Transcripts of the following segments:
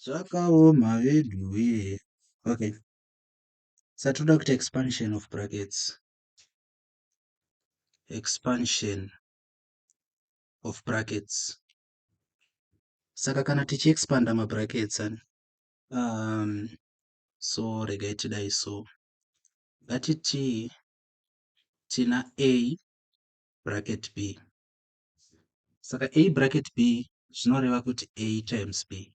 Zvakaoma veduwee. Okay. Saka tinoda kuita expansion of brackets. Expansion of brackets. Saka kana tichi expanda ma brackets ani. Um, so regai tidai so. Ngatiti tina A bracket B. Saka a bracket b zvinoreva kuti a times b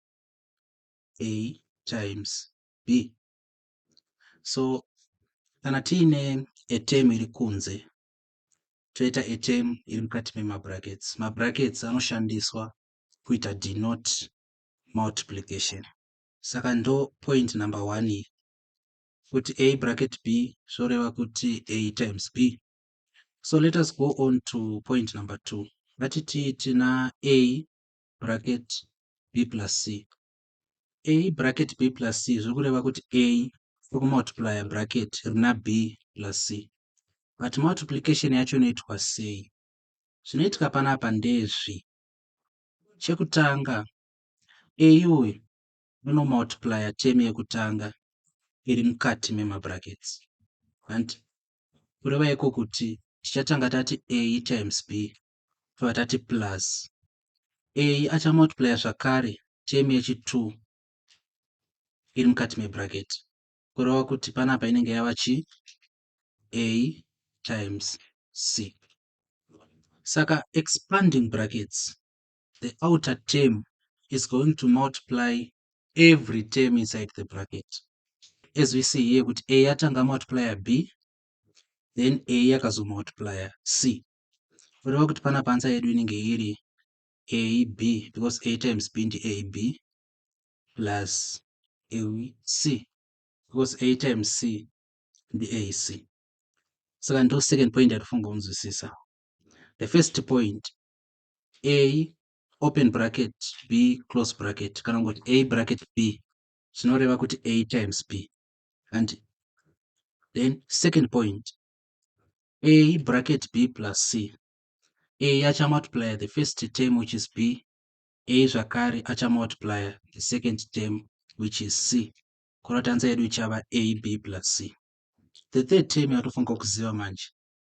a times b so kana tiine a term iri kunze toita a term iri mukati memabrackets mabrackets anoshandiswa kuita denote multiplication saka ndo point number one iyi kuti a bracket b zvoreva kuti a times b So let us go on to point number two. Vatiti tina A bracket B plus C. A bracket B plus C zviri kureva kuti A tokumultiplier bracket rina B plus C. But multiplication yacho inoitwa sei? Zvinoitika panapa ndezvi. Chekutanga A uyu unomultiplier term yekutanga iri mukati memabrackets. Hanti kureva iko kuti tichatanga tati a times b tobva tati plus a achamultiplya zvakare temu yechi2 iri mukati mebracket kureva kuti panapa inenge yava chi a times c saka expanding brackets the outer term is going to multiply every term inside the bracket as we see here kuti a yatanga multiplier b then a yakazomultiplier c kureva kuti pana pansa yedu inenge iri ab because a times b ndi ab plus ac because a times c ndi ac saka ndo second point yatifunga kunzwisisa the first point a open bracket b close bracket kana kungoti a bracket b zvinoreva kuti a times b and then second point a bracket b plus c a achamultiplier the first term which is b a zvakare achamultiplier the second term which is c kuratanza yedu ichava a b plus c the third term yatofanirwa kuziva manje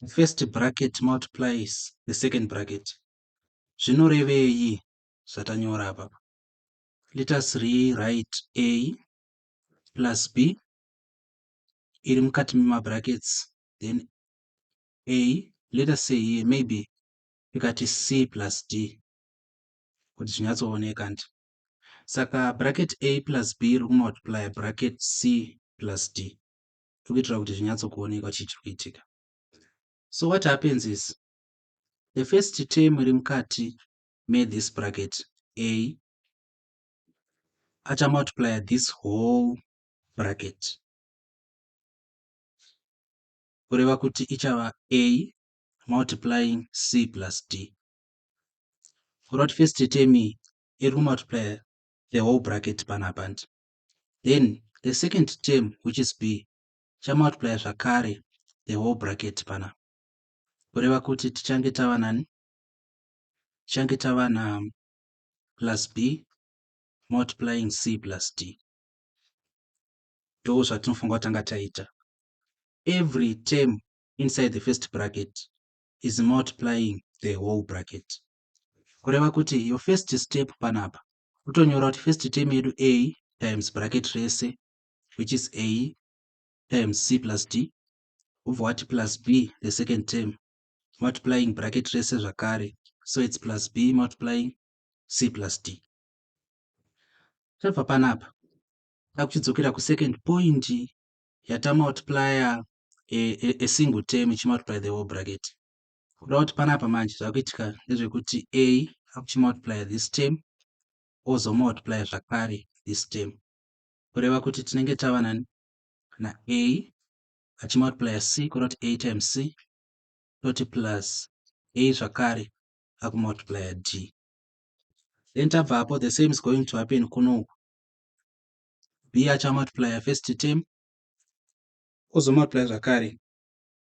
The first bracket multiplies the second bracket. Zvinorevei zvatanyora apa? Let us rewrite A plus B iri mukati memabrackets then A let us say here maybe tikati C plus D kuti zvinyatsooneka ndi saka bracket A plus B riri kumultiplya bracket C plus D tiri kuitira kuti zvinyatsokuonekwa chii chiri kuitika so what happens is the first term iri mukati methis bracket a achamultiplya this whole bracket kureva kuti ichava a multiplying c plus d kureva kuti first term iri kumultiplya the whole bracket panapa ndi then the second term which is b chamultiplya zvakare the whole bracket pana kureva kuti tichange tava nani tichange tava na plus b multiplying c plus d ndo zvatinofunga kutanga taita every term inside the first bracket is multiplying the whole bracket kureva kuti your first step panapa kutonyora kuti first term yedu a times bracket rese which is a times c plus d wobva wati plus b the second term multiplying bracket rese zvakare so its plus b multiplying c plus d tabva panapa takuchidzokera kusecond point yatamultiplya a, a, a single term ichimultiply the whole bracket kuda kuti panapa manje zvakuitika ndezvekuti a akuchimultiplya this term ozomultiplya zvakare this term kureva kuti tinenge tava nani na a achimultiplya c kuda kuti a times c toti plus a zvakare akumultiplya d then tabva apo the same is going to happen kunoku b achamultiplya first term ozomultiplya zvakare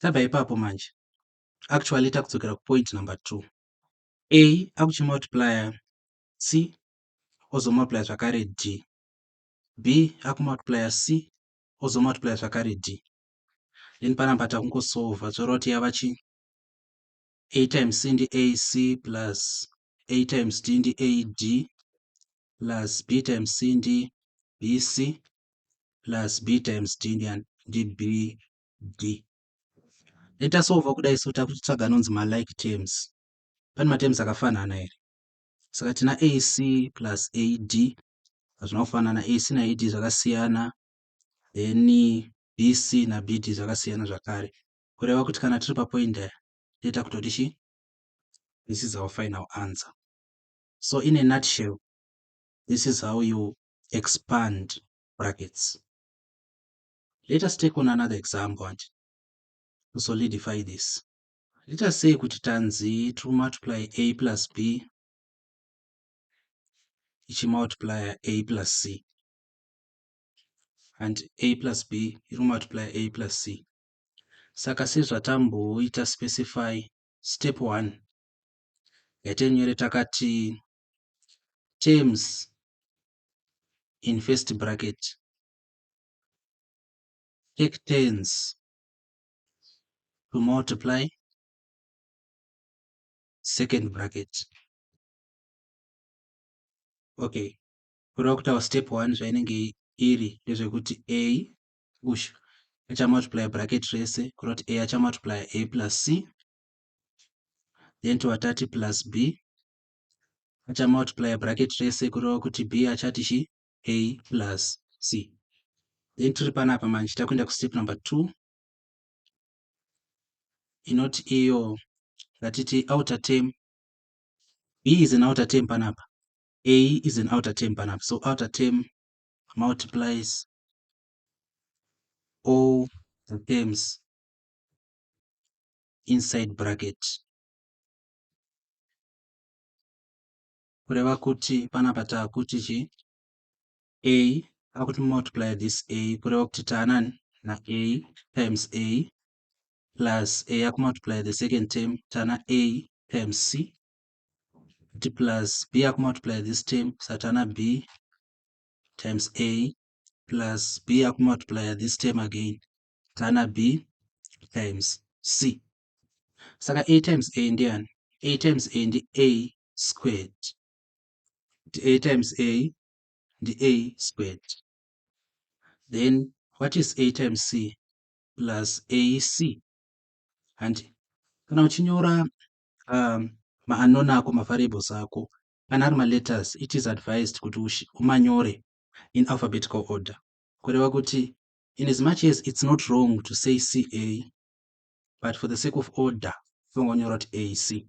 Tabva ipapo manje. Actually takudzokera kupoint number two. A akuchimultiplier C ozomultiplier zvakare D. B akumultiplier C ozomultiplier zvakare D. Then panapa takungosolva zvoreva kuti yava chii? A times C ndi AC plus A times D ndi AD plus B times C ndi BC plus B times D ndi, ndi B D. Dai tasova kudai so takutsvaga anonzi malike terms. Pane materms akafanana here? Saka tina AC plus AD hazvina kufanana. AC na AD zvakasiyana. Then BC na BD zvakasiyana zvakare. Kureva kuti kana tiri papoint aya toita kutoti chi? This is our final answer. So in a nutshell, this is how you expand brackets. Let us take on another example hanti to solidify this. Let us say kuti tanzi to multiply a plus b ichimultiplier a plus c and a plus b iri multiply a plus c saka sezvatamboita specify step one yaite nyore takati terms in first bracket take tens to multiply second bracket okay kureva kuti our step one zvainenge iri ndezvekuti a ush achamultiply bracket rese kureva kuti a achamultiply a plus c then tovatati plus b achamultiply bracket rese kureva kuti b achati chii a plus c then tiri panapa manje takuenda kustep number two inoti iyo ngatiti outer term b is an outer term panapa a is an outer term panapa so outer term multiplies all the terms inside bracket kureva kuti panapa taakuti chi a akuti multiply this a kureva kuti taanani na a times a plus a akumultiply the second term tana a times c kuti plus b akumultiply this term satana b times a plus b akumultiply this term again tana b times c saka a times a ndiani a times a ndi a squared kuti a times a ndi a squared then what is a times c plus ac handi kana uchinyora um, maanona ako mavariables ako kana ari maletters it is advised kuti umanyore in alphabetical order kureva kuti in as much as it's not wrong to say ca but for the sake of order funga unyora kuti ac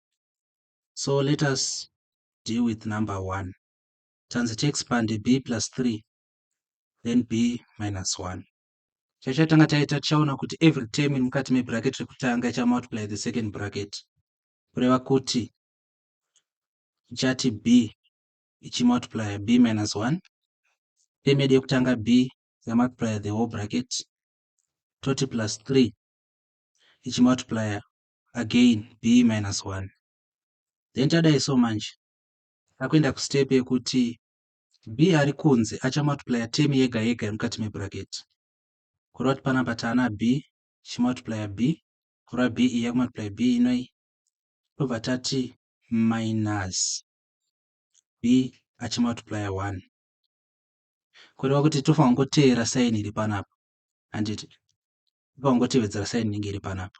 so let us deal with number one tanzi tiexpande b plus 3 then b minus 1 chachatanga taita tichaona kuti every term iri mukati mebracket rekutanga ichamultiply the second bracket kureva kuti ichati b ichimultiplya b minus 1 term yedu yekutanga b yamultiplya the whole bracket toti plus 3 ichimultiplya again be minus one then tadai so manje takuenda kustep yekuti b ari kunze achamultiplya term yega yega iri mukati mebracket kureva kuti panapa taana b chimultiplya b kureva b iyi yakumultiplya b inoi tobva tati minus b achimultiplya one kureva kuti tofanira kungoteera saini iri panapa handiti tofanira kungotevedzera saini inenge iri panapa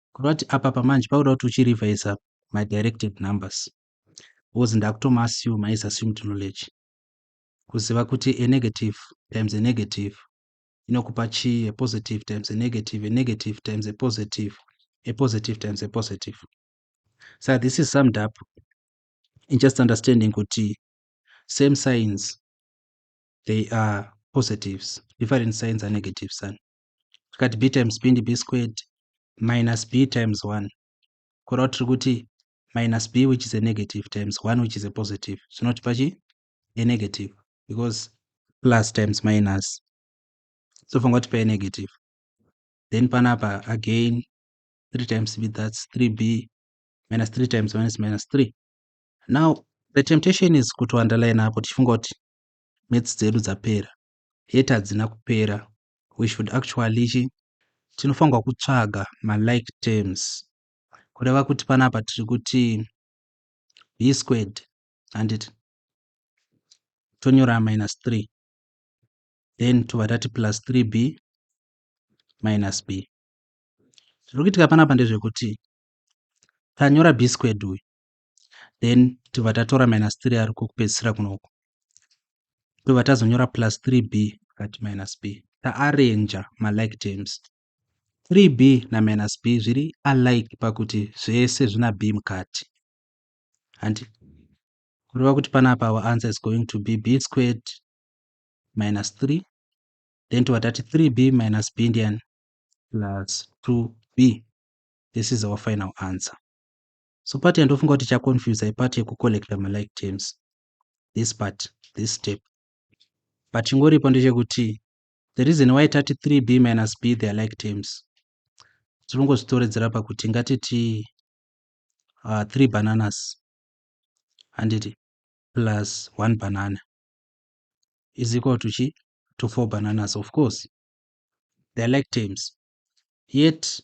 Kureva kuti apapa manje pakuda kuti uchirevise my directive numbers because ndakutoma assume is assumed knowledge kuziva kuti a negative times a negative inokupa chii a positive times a negative a negative times a positive a positive times a positive so this is summed up in just understanding kuti same signs they are positives different signs are negatives and tikati b times b ndi b squared minus b times 1 kureva tiri kuti minus b which is a negative times 1 which is a positive zvinotipa chi a negative because plus times minus sofunga kuti pa a negative then panapa again 3 times b that's 3b minus 3 times minus minus 3 now the temptation is kuti underline apo tichifunga kuti maths dzedu dzapera hate hadzina kupera we should actually chi tinofanirwa kutsvaga malike terms kureva kuti panapa tiri kuti b squared handiti tonyora minus 3 then tobva tati plus 3b minus b zviri kuitika panapa ndezvekuti tanyora b squared uyu then tobva tatora minus 3 ariko kupedzisira kunoko tobva tazonyora plus 3b kati minus b taarranja malike terms 3b na minus b zviri alike pakuti zvese zvina b mukati hanti kureva kuti panapa our answer is going to be b squared minus 3 then tobva tati 3b minus b ndiani plus 2b this is our final answer so part yandofunga kuti cha confuse ipart yekucollecta malike terms this part this step but chingoripo ndechekuti the reason why tati 3b minus b their like terms tinongozvitoredzera pakuti ngatiti uh, three bananas handiti plus one banana is equal to chi to four bananas of course their like terms yet